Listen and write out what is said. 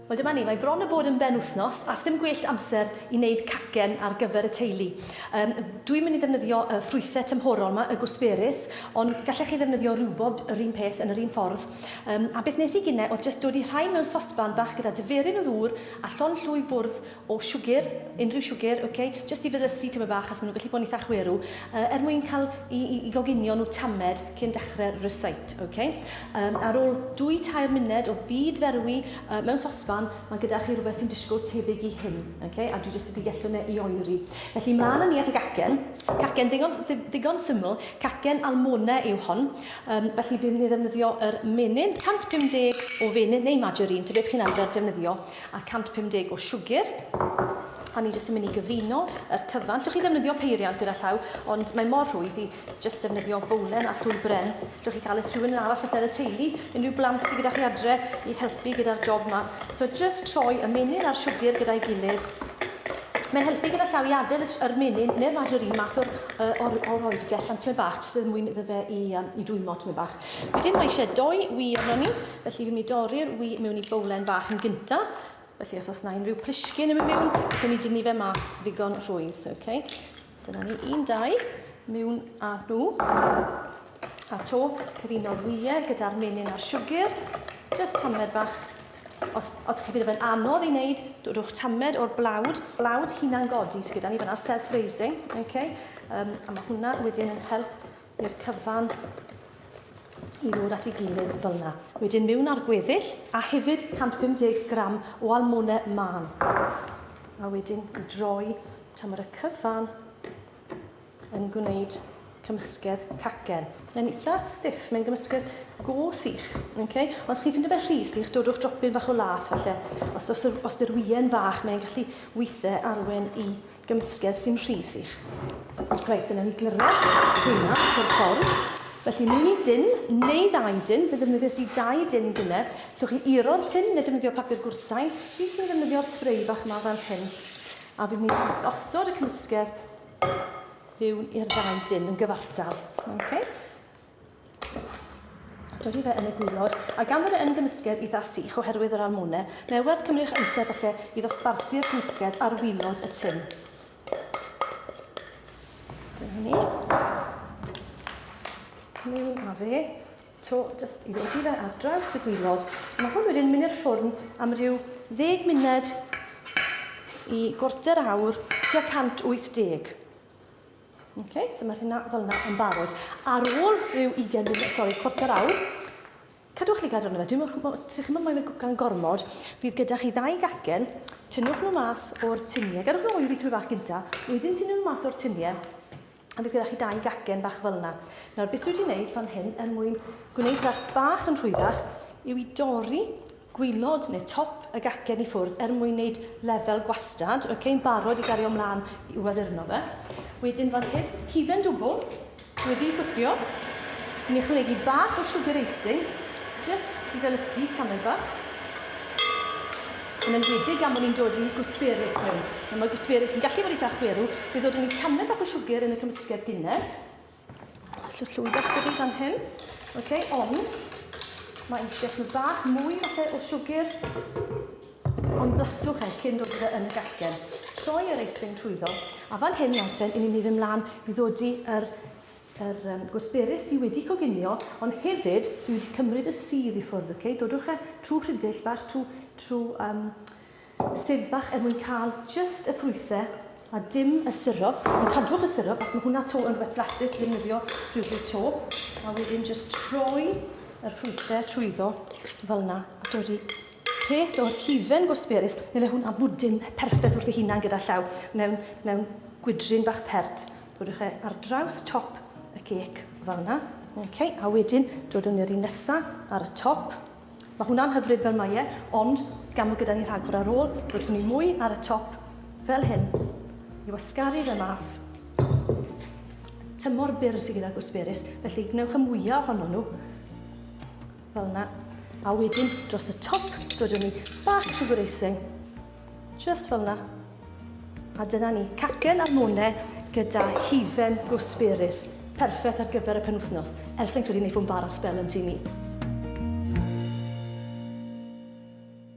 Wel dyma ni, mae bron a bod yn benwythnos a sdim gwell amser i wneud cacen ar gyfer y teulu. Yym dwi'n mynd i ddefnyddio y ffrwythau tymhorol 'ma, y gwsberis, ond gallech chi ddefnyddio riwbob yr un peth yn yr un ffordd. Yym a beth nes i gine oedd jyst dodi rhain mewn sosban bach gyda diferyn o ddŵr a llond llwy fwrdd O siwgr, unrhyw siwgr, ok, jyst i fyddysu tymed bach achos maen nhw'n gallu bod yn eitha chwerw, yy er mwyn cael i i i goginio nhw tamed cyn dechrau'r recite, ok. Yym ar ôl dwy tair muned o fyd ferwi yy mewn sosban mae gyda chi rhywbeth sy'n disgo tebyg i hyn, ok, a dwi jyst wedi gellwng e i oeri. Felly mlaen â ni at y gacen, cacen ddigon ddi- ddigon syml, cacen almone yw hon, yym felly bydd ni'n ddefnyddio yr menyn, 150 o fenyn neu margarine, ta beth chi'n arfer defnyddio. a 150 o siwgr a ni jyst yn mynd i gyfuno yr cyfan. Llwch chi ddefnyddio peiriant gyda llaw, ond mae mor rhwydd i jyst defnyddio bowlen a llwy bren. Llwch chi cael eich rhywun yn arall falle yn y teulu, unrhyw blant sydd gyda chi adre i helpu gyda'r job yma. So jyst troi y menyn a'r siwgr gyda'i gilydd. Mae'n helpu gyda llaw i adael yr menyn neu'r margarine mas o'r, uh, or, or oergell am tymed bach, jyst er mwyn iddo fe i, um, i dwymo tymed bach. Wedyn mae eisiau doi wi arno ni, Felly fi'n mynd i dorri'r wy mewn i bowlen bach yn gynta. Felly os oes na unrhyw plishgyn yn mynd mewn, allwn ni dynnu fe mas ddigon rhwydd. Okay. Dyna ni, un, dau, mewn a nhw. A to, cyfuno'r wyau gyda'r menyn a'r siwgr. Just tamed bach. Os, os chi'n ffeindio fe'n anodd i wneud, rhowch tamed o'r blawd, blawd hunan godi sydd gyda ni fyna'r self-raising. Okay. Um, a mae hwnna wedyn yn help i'r cyfan i ddod at ei gilydd fel yna. Wedyn mewn ar gweddill a hefyd 150 gram o almone man. A wedyn droi tan mae'r cyfan yn gwneud cymysgedd cacen. Mae'n eitha stiff, mae'n gymysgedd go sych. Okay? Ond os chi'n ffindio fe rhy sych, dodwch dropyn bach o lath falle. Os, os, os dy'r wien fach, mae'n gallu weithiau arwen i gymysgedd sy'n rhy sych. Reit, so newn ni gyrra hynna o'r ffordd. Felly, mewn i dyn, neu ddau dyn, fe ddefnyddios i dau dyn gynne. Llwch chi iro'r tyn, neu defnyddio papur gwrtain. Fi eisiau ddefnyddio'r spray bach yma fel hyn. A fi'n mynd i osod y cymysgedd mewn i'r ddau dyn yn gyfartal. Okay. Dydy fe yn y gwylod, a gan fod e yn gymysgedd eitha sych oherwydd yr almone, mae werth cymryd eich amser falle i ddosbarthu'r cymysgedd ar wylod y tun. Dyna ni. Cymryd a fe, to just i ddodi fe ar draws y gwylod. Mae hwn wedyn mynd i'r ffwrn am ryw ddeg munud i gorter awr tua 180. Okay, so mae hynna fel yna yn barod. Ar ôl rhyw 20 munud, sori, cwarter awr, cadwch chi gadw arno fe. Dwi'n chi ddim yn moyn fe gan gormod. Fydd gyda chi ddau gacen, tynnwch nhw mas o'r tuniau. Gadwch nhw o'i fi tyfu bach gynta, wedyn tynnwch nhw mas o'r tuniau. A bydd gyda chi dau gacen bach fel yna. Nawr, beth dwi wedi gwneud fan hyn er mwyn gwneud rhaid bach yn rhwyddach yw i dorri gwaelod neu top y gacen i ffwrdd er mwyn neud lefel gwastad, ok, yn barod i gario mlan i uaddurno fe. Wedyn fan hyn, hufen dwbl, wedi ei gwpio, ni'n ychwanegu bach o sugar icing, just i fel ysu tamed bach. Yn enwedig gan bod ni'n dod i gwsperis mewn. Nawr mae gwsperis yn gallu bod eitha chwerw, fe ddod yn ni tamed bach o siwgr yn y cymysgedd gynne. Os llwch llwyddo chyddi fan hyn. Ok, ond mae eisiau nhw bach mwy falle o siwgr. Ond blaswch e cyn dod gyda yn y gasgen. Troi yr eisling trwyddo. A fan hyn nawr ten, i ni'n mynd ymlaen i ddodi yr yr um, gwsberus sydd wedi coginio, ond hefyd dwi wedi cymryd y sydd i ffwrdd, okay? Dodwch e trwy rhydill bach, trwy, trwy um, Sydd bach er mwyn cael just y ffrwythe a dim y syrup. Ond cadwch y syrup, achos mae hwnna to yn rhywbeth blasus i ddefnyddio rhywbryd to. A wedyn just troi yr ffrwythe trwyddo fel yna. A dod i peth o'r hufen gosberus, neu le hwnna bwdin perffaith wrth ei hunan gyda llaw, mewn, mewn gwydrin bach pert. Dodwch e ar draws top y cec fel yna. Okay, a wedyn dodwn i'r un nesa ar y top. Mae hwnna'n hyfryd fel mae e, ond gan fod gyda ni rhagor ar ôl, roedd hwn i mwy ar y top fel hyn, i wasgaru fe mas. Tymor byr sydd gyda gwsberus, felly gwnewch y mwyaf ohono nhw, fel yna. A wedyn, dros y top, dod â ni back to the racing, Jyst fel 'na. A dyna ni, cacen a mone gyda hufen gooseberries. Perffeth ar gyfer y penwythnos, er sai'n credu neith o 'mbara sbel yn tŷ ni.